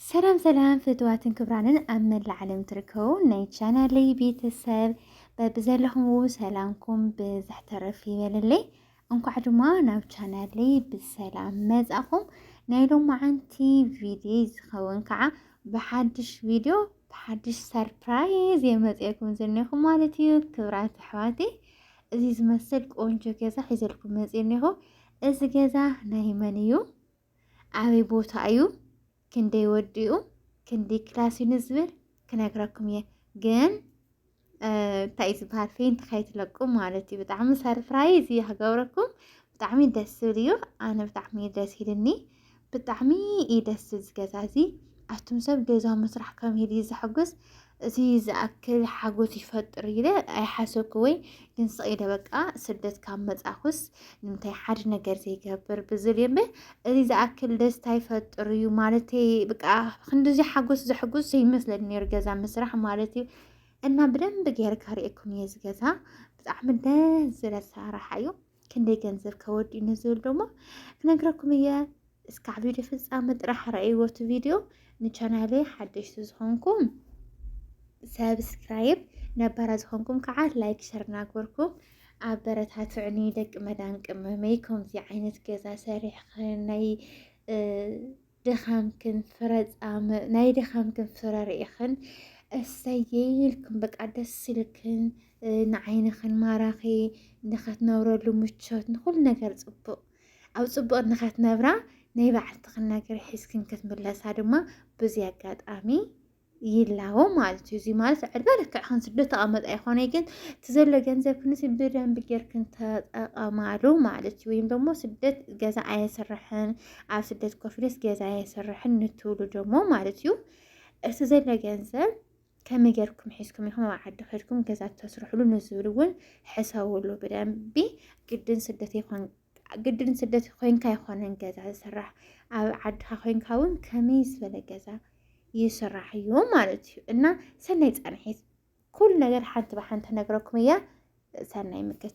ሰላም ሰላም ፍትዋትን ክብራንን ኣብ መላእ ዓለም ትርከቡ ናይ ቻናለይ ቤተሰብ በብዘለኹም ሰላምኩም ብዝሕ ተረፍ ይበለለይ። እንኳዕ ድማ ናብ ቻናለይ ብሰላም መጻኹም ናይ ሎማዓንቲ ቪድዮ ዝኸውን ከዓ ብሓድሽ ቪድዮ ብሓድሽ ሰርፕራይዝ የመፅኤኩም ዝኒኹ ማለት እዩ ክብራት ኣሕዋተይ እዚ ዝመስል ቆንጆ ገዛ ሒዘልኩም መፅእ እኒኹ እዚ ገዛ ናይ መን እዩ ኣበይ ቦታ እዩ ክንደይ ወዲኡ ክንደይ ክላስ እዩ ንዝብል ክነግረኩም እየ ግን እንታይ እዩ ዝበሃል ፌንት ከይትለቁ ማለት እዩ ብጣዕሚ ሰርፕራይዝ እዩ ክገብረኩም ብጣዕሚ ደስ ዝብል እዩ ኣነ ብጣዕሚ ደስ ኢልኒ ብጣዕሚ እዩ ደስ ዝብል ዝገዛ እዚ ኣቱም ሰብ ገዛ ምስራሕ ከመይ ድዩ ዘሐጉስ እዚ ዝኣክል ሓጎስ ይፈጥር ኢለ ኣይሓሰብኩ ወይ ግን ስኢለ በቃ ስደት ካብ መጻኹስ ንምንታይ ሓደ ነገር ዘይገብር ብዝብል እየ እምበር እዚ ዝኣክል ደስታ ይፈጥር እዩ ማለት በቃ ክንዲዚ ሓጎስ ዘሐጉስ ዘይመስለኒ ነይሩ ገዛ ምስራሕ ማለት እዩ እና ብደንብ ጌርካ ርኤኩም እየ እዚ ገዛ ብጣዕሚ ደስ ዝብል ኣሰራርሓ እዩ ክንደይ ገንዘብ ከወዲኡ ንዝብል ደሞ ክነግረኩም እየ እስካዕ ቪድዮ ፍፃመ ጥራሕ ረኣይዎ እቲ ቪድዮ ንቻናለይ ሓደሽቲ ዝኾንኩም ሰብስክራይብ ነባራ ዝኾንኩም ከዓ ላይክ ሸር እናግበርኩም ኣበረታትዕኒ ደቂ መዳን ቅመመይ ከምዚ ዓይነት ገዛ ሰሪሕኽን ናይ ድኻምክን ፍረ ጻም ናይ ድኻምክን ፍረ ርኢኽን እሰየይ ኢልክን በቃ ደስ ኢልክን ንዓይንኽን ማራኺ ንኸትነብረሉ ምቾት ንኹሉ ነገር ጽቡቕ ኣብ ጽቡቕ ንኸትነብራ ናይ ባዕልትኽን ነገር ሒዝክን ክትምለሳ ድማ ብዙ ኣጋጣሚ ይላቦ ማለት እዩ። እዚ ማለት ዕድመ ልክዕክን ስዶ ተቐመጥ ኣይኮነይ ግን እቲ ዘሎ ገንዘብ ክንሲ ብደንብ ጌርክን ተጠቐማሉ ማለት እዩ። ወይም ደግሞ ስደት ገዛ ኣየስርሕን ኣብ ስደት ኮፍሌስ ገዛ ኣየስርሕን ንትብሉ ደግሞ ማለት እዩ እቲ ዘሎ ገንዘብ ከመይ ጌርኩም ሒዝኩም ኢኹም ኣብ ዓዲ ከድኩም ገዛ ተስርሕሉ ንዝብል እውን ሕሰብሉ ብደንቢ ግድን ስደት ይኾን ግድን ስደት ኮይንካ ኣይኮነን ገዛ ዝስራሕ ኣብ ዓድካ ኮይንካ እውን ከመይ ዝበለ ገዛ ይስራሕ እዩ ማለት እዩ እና ሰናይ ፃንሒት ኩሉ ነገር ሓንቲ ብሓንቲ ነግረኩም እያ ሰናይ ምክት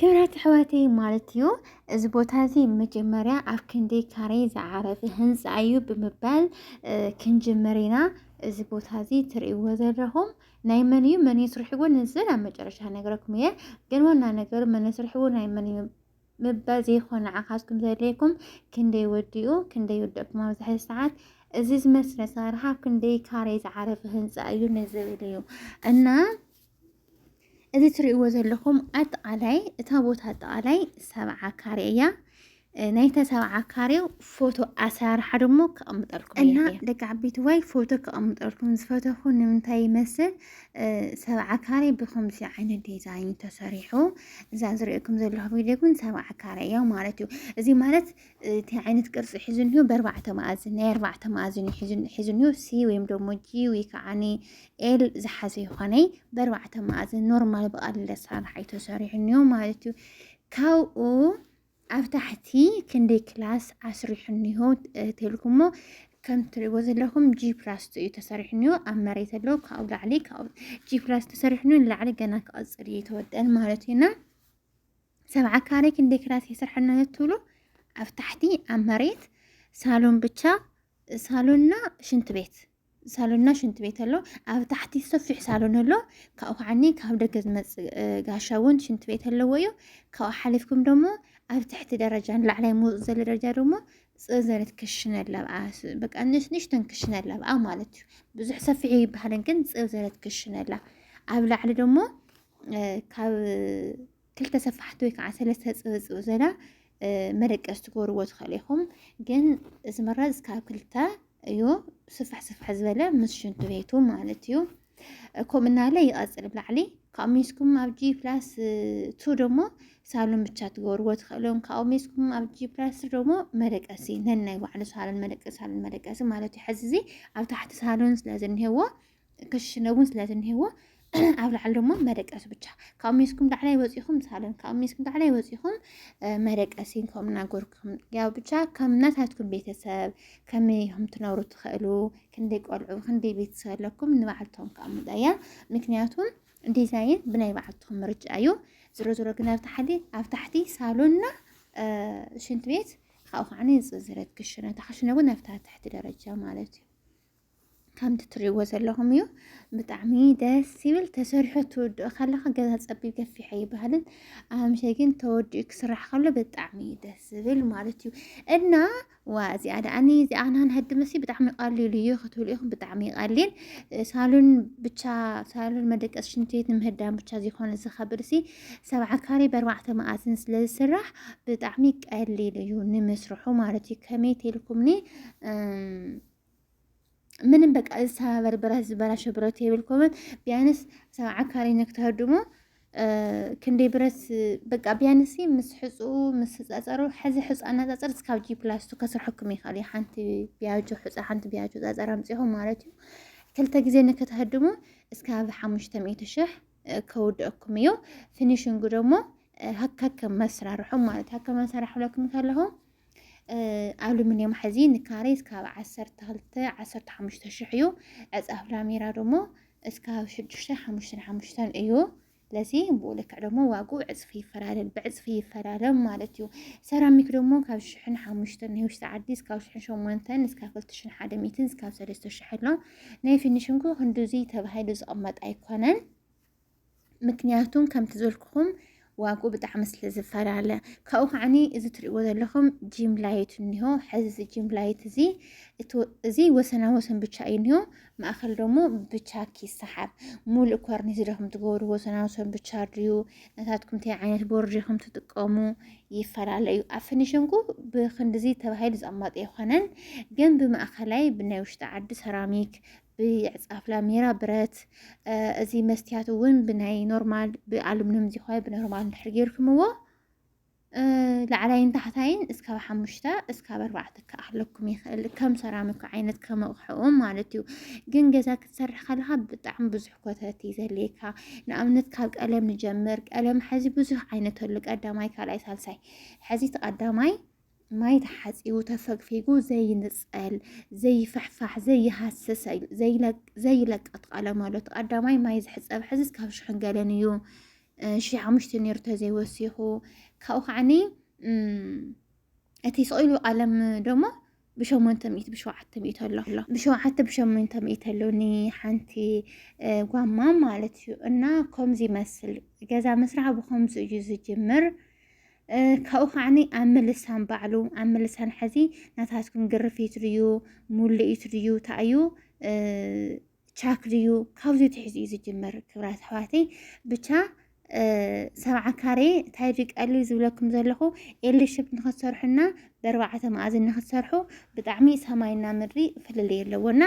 ክብራት ኣሕዋተይ ማለት እዩ እዚ ቦታ እዚ መጀመርያ ኣብ ክንዲ ካሬ ዝዓረፈ ህንፃ እዩ ብምባል ክንጅምር ኢና እዚ ቦታ እዚ ትርእይዎ ዘለኹም ናይ መን እዩ መን እዩ ስርሕዎ ንዝን ኣብ መጨረሻ ነገረኩም እየ ግን ዋና ነገሩ መን ስርሕዎ ናይ መን እዩ ምባል ዘይኮን ንዓኻትኩም ዘድልየኩም ክንደይ ወዲኡ ክንደይ ወደእኩም ኣብዝሐ ሰዓት እዚ ዝመስለ ኣሰራርሓ ኣብ ክንደይ ካሬ ዝዓረፈ ህንፃ እዩ ንዝብል እዩ እና እዚ ትሪእዎ ዘለኹም ኣጠቃላይ እታ ቦታ ኣጠቃላይ ሰብዓ ካሬ እያ። ናይተ ሰብዓ ካሬው ፎቶ ኣሰራርሓ ድሞ ከቐምጠልኩም እና ደቂ ዓበይቲ ዋይ ፎቶ ከቐምጠልኩም ዝፈተኹ ንምንታይ ይመስል ሰብዓ ካሬ ብከምዚ ዓይነት ዲዛይን ተሰሪሑ እዛ ዝሪኦኩም ዘለኹ ቪድዮ ግን ሰብዓ ካሬ እያ ማለት እዩ። እዚ ማለት እቲ ዓይነት ቅርፂ ሒዙ እኒሆ ብኣርባዕተ መኣዝን ናይ ኣርባዕተ መኣዝን ሒዙ እኒሆ ሲ ወይም ደግሞ ጂ ወይ ከዓ ኤል ዝሓዘ ይኾነ ብኣርባዕተ መኣዝን ኖርማል ብቀሊል ኣሰራርሓ እዩ ተሰሪሑ እኒሆ ማለት እዩ ካብኡ ኣብ ታሕቲ ክንደይ ክላስ ኣስሪሑ እኒሆ ተልኩሞ ከም ትሪእዎ ዘለኹም ጂ ፕላስ እዩ ተሰሪሑ ኒዮ ኣብ መሬት ኣለዉ ካብኡ ላዕሊ ካብኡ ጂ ፕላስ ተሰሪሑ ኒዮ ንላዕሊ ገና ክቐፅል እዩ ተወደን ማለት እዩና ሰብዓ ካሬ ክንደይ ክላስ የስርሐና ትብሉ ኣብ ታሕቲ ኣብ መሬት ሳሎን ብቻ ሳሎንና ሽንት ቤት ሳሎንና ሽንቲ ቤት ኣሎ ኣብ ታሕቲ ሰፊሕ ሳሎን ኣሎ ካብኡ ከዓኒ ካብ ደገ ዝመፅእ ጋሻ እውን ሽንቲ ቤት ኣለዎ እዩ ካብኡ ሓሊፍኩም ደሞ ኣብ ትሕቲ ደረጃ ንላዕላይ ምውፅ ዘሎ ደረጃ ደሞ ፅዘረት ክሽነ ኣለብኣ በቃ ንእሽተን ክሽነ ኣለብኣ ማለት እዩ ብዙሕ ሰፊሕ ይበሃልን ግን ፅዘረት ክሽነ ኣላ ኣብ ላዕሊ ደሞ ካብ ክልተ ሰፋሕቲ ወይ ከዓ ሰለስተ ፅብፅብ ዘላ መደቀስ ትገብርዎ ትኽእሉ ኢኹም። ግን ዝምረፅ ካብ ክልተ እዩ ስፍሕ ስፍሕ ዝበለ ምስ ሽንቲ ቤቱ ማለት እዩ። ከምኡ እናለ ይቐፅል ብላዕሊ ካብኡ ሜስኩም ኣብ ጂ ፕላስ ቱ ደግሞ ሳሎን ብቻ ትገብርዎ ትኽእሎም ካብኡ ሜስኩም ኣብ ጂ ፕላስ ደግሞ መደቀሲ ነናይ ባዕሉ ሳሎን መደቀሲ ሳሎን መደቀሲ ማለት እዩ። ሕዚ እዚ ኣብ ታሕቲ ሳሎን ስለ ዝኒሄዎ ክሽነ እውን ስለ ዝኒህዎ ኣብ ላዕሊ ድማ መደቀሲ ብቻ ካብ ሜስኩም ላዕላይ ወፂኹም ሳለን ካብ ሜስኩም ላዕላይ ወፂኹም መደቀሲን ከም እናጎርኩም ያው ብቻ ከም ናታትኩም ቤተሰብ ከመይ ኢኹም ትነብሩ ትኽእሉ ክንደይ ቆልዑ ክንደይ ቤተሰብ ኣለኩም ንባዕልቶም ከዓ ምጣያ ምክንያቱም ዲዛይን ብናይ ባዕልትኹም ምርጫ እዩ ዝሮ ዝሮ ግን ኣብ ታሕቲ ኣብ ታሕቲ ሳሎንና ሽንት ቤት ካብኡ ከዓ ዝፅዝረት ክሽነ ታክሽነ እውን ኣብታ ትሕቲ ደረጃ ማለት እዩ ከምቲ ትሪእዎ ዘለኹም እዩ። ብጣዕሚ ደስ ይብል ተሰሪሑ ትውድኦ ከለኻ ገዛ ፀቢብ ገፊሕ ኣይበሃልን። ኣምሸ ግን ተወዲኡ ክስራሕ ከሎ ብጣዕሚ እዩ ደስ ዝብል ማለት እዩ እና ዋ እዚኣ ደኣኒ እዚኣ ናን ህዲ መሲ ብጣዕሚ ቀሊል እዩ ክትብሉ ኢኹም ብጣዕሚ ቀሊል ሳሎን ብቻ ሳሎን መደቀስ ሽንቲ ቤት ንምህዳን ብቻ ዝኾነ ዝኸብድ ሲ ሰብዓ ካሬ በርባዕተ መኣዝን ስለ ዝስራሕ ብጣዕሚ ቀሊል እዩ ንምስርሑ ማለት እዩ ከመይ ተልኩምኒ ምንም በቃ ዝተባበር ብረት ዝበላሸ ብረት የብልኩምን ቢያንስ ሰብ ዓካሪነ ክትህድሙ ክንደይ ብረት በቃ ቢያንስ ምስ ሕፁ ምስ ህፃፀሩ ሕዚ ሕፁ ኣናፃፅር እስካብ ጂ ፕላስቱ ከስርሐኩም ይኽእል እዩ ሓንቲ ቢያጆ ሕፃ ሓንቲ ቢያጆ ፃፀር ኣምፂኹም ማለት እዩ ክልተ ግዜ ንክትህድሙ እስካብ ሓሙሽተ ሚእቲ ሽሕ ከውድአኩም እዩ ፊኒሽንጉ ደግሞ ሀካከ መስራርሑ ማለት ሀከ መሰራርሑ ለኩም ከለኹ ኣሉሚንየም ሐዚ ንካሬ እስካብ ዓሰርተ ክልተ ዓሰርተ ሓሙሽተ ሽሕ እዩ ዕፃፍ ላሜራ ደሞ እስካብ ሽዱሽተ ሓሙሽተን ሓሙሽተን እዩ ለዚ ብኡ ልክዕ ደሞ ዋግኡ ዕፅፊ ይፈላለል ብዕፅፊ ይፈላለም ማለት እዩ ሰራሚክ ደሞ ካብ ሽሕን ሓሙሽተን ናይ ውሽጢ ዓዲ እስካብ ሽሕን ሸሞንተን እስካብ ክልተ ሽሕን ሓደ ሚትን እስካብ ሰለስተ ሽሕ ኣሎ ናይ ፊኒሽንግ ክንድዙይ ተባሂሉ ዝቕመጥ ኣይኮነን ምክንያቱም ከምቲ ዘልኩኹም ዋጉ ብጣዕሚ ስለ ዝፈላለ ካብኡ ከዓኒ እዚ ትሪእዎ ዘለኹም ጂም ላይት እኒሆ ሕዚ እዚ ጂም ላይት እዚ እዚ ወሰና ወሰን ብቻ እዩ እኒሆ ማእኸል ደግሞ ብቻኪ ይሰሓብ ሙሉእ ኮርኒስ ድኹም ትገብሩ ወሰና ወሰን ብቻ ድዩ ናታትኩም እንታይ ዓይነት ቦርድ ኢኹም ትጥቀሙ ይፈላለ እዩ ኣብ ፍኒሽንጉ ብክንዲዚ ተባሂሉ ዝቕመጥ ኣይኮነን ግን ብማእኸላይ ብናይ ውሽጢ ዓዲ ሰራሚክ ብዕፃፍ ላሜራ ብረት እዚ መስትያት እውን ብናይ ኖርማል ብኣሉሚኒየም ዝኾነ ብኖርማል እንድሕር ጌርኩምዎ ላዕላይን ታሕታይን እስካብ ሓሙሽተ እስካብ ኣርባዕተ ክኣክለኩም ይኽእል ከም ሰራሚክ ዓይነት ከም ኣቕሕኡ ማለት እዩ። ግን ገዛ ክትሰርሕ ከለካ ብጣዕሚ ብዙሕ ኮተት እዩ ዘድልየካ። ንኣብነት ካብ ቀለም ንጀምር። ቀለም ሐዚ ብዙሕ ዓይነት ኣሉ ቀዳማይ፣ ካልኣይ፣ ሳልሳይ ሐዚ እቲ ቀዳማይ ማይ ተሓፂቡ ተፈግፊጉ ዘይንፀል ዘይፍሕፋሕ ዘይሃስስ ዘይለቀት ቀለም ኣሎ። እቲ ቀዳማይ ማይ ዝሕፀብ ሐዚ እስካብ ሽሕን ገለን እዩ። ሽሕ ሓሙሽተ ነይሩ ተዘይወሲኹ ካብኡ ከዓኒ እቲ ስቕኢሉ ቃለም ደሞ ብሸሞንተ ሚእቲ ብሸውዓተ ሚእቲ ኣሎ ብሸውዓተ ብሸሞንተ ሚእቲ ኣሎ ንሓንቲ ጓማ ማለት እዩ እና ከምዚ ይመስል ገዛ ምስራሕ ብከምዚ እዩ ዝጅምር ካብኡ ከዓኒ ኣብ ምልሳን ባዕሉ ኣብ ምልሳን ሕዚ ናታትኩም ግርፊት ድዩ ሙልኢት ድዩ ታእዩ ቻክ ድዩ ካብዚ ትሕዚ እዩ ዝጅመር ክብራት ኣሕዋተይ ብቻ ሰብዓ ካሬ እንታይ ድቀሉ ዝብለኩም ዘለኹ ኤልሽፕ ንክትሰርሑና በርባዕተ መኣዝን ንክትሰርሑ ብጣዕሚ ሰማይና ምድሪ ፍልልይ ኣለዎ እና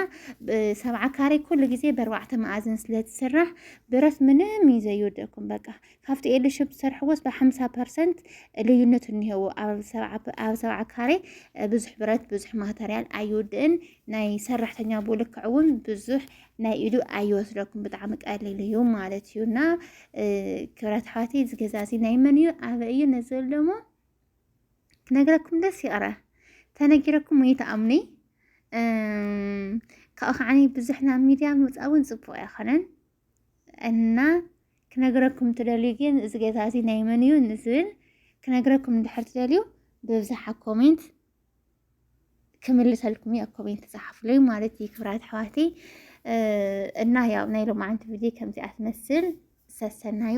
ሰብዓ ካሬ ኩሉ ግዜ በርባዕተ መኣዝን ስለትስራሕ ብረት ምንም እዩ ዘዩወደኩም በቃ ካብቲ ኤሉ ሽብ ዝሰርሕዎስ ብሓምሳ ፐርሰንት ልዩነት እኒሄዎ ኣብ ሰብዓ ካሬ ብዙሕ ብረት ብዙሕ ማተርያል ኣይውድእን ናይ ሰራሕተኛ ብልክዕ እውን ብዙሕ ናይ ኢዱ ኣይወስደኩም ብጣዕሚ ቀሊል እዩ ማለት እዩ እና ክብረት ሓዋቲ እዚ ገዛ እዚ ናይ መን እዩ ኣበ እዩ ነዘል ደሞ ክነግረኩም ደስ ይቕረ ተነጊረኩም ወይ ተኣምኒ ካብኡ ከዓኒ ብዙሕ ናብ ሚድያ ምውፃእ እውን ፅቡቅ ኣይኮነን እና ክነግረኩም ትደልዩ ግን እዚ ገዛ እዚ ናይ መን እዩ ንዝብል ክነግረኩም እንድሕር ትደልዩ ብብዝሓ ኮሜንት ክምልሰልኩም እየ ኮሜንት ፃሓፍለይ ማለት እዩ ክብራት ኣሕዋቲ እና ያው ናይ ሎማዓንቲ ቪድዮ ከምዚኣ ትመስል ሰሰናዩ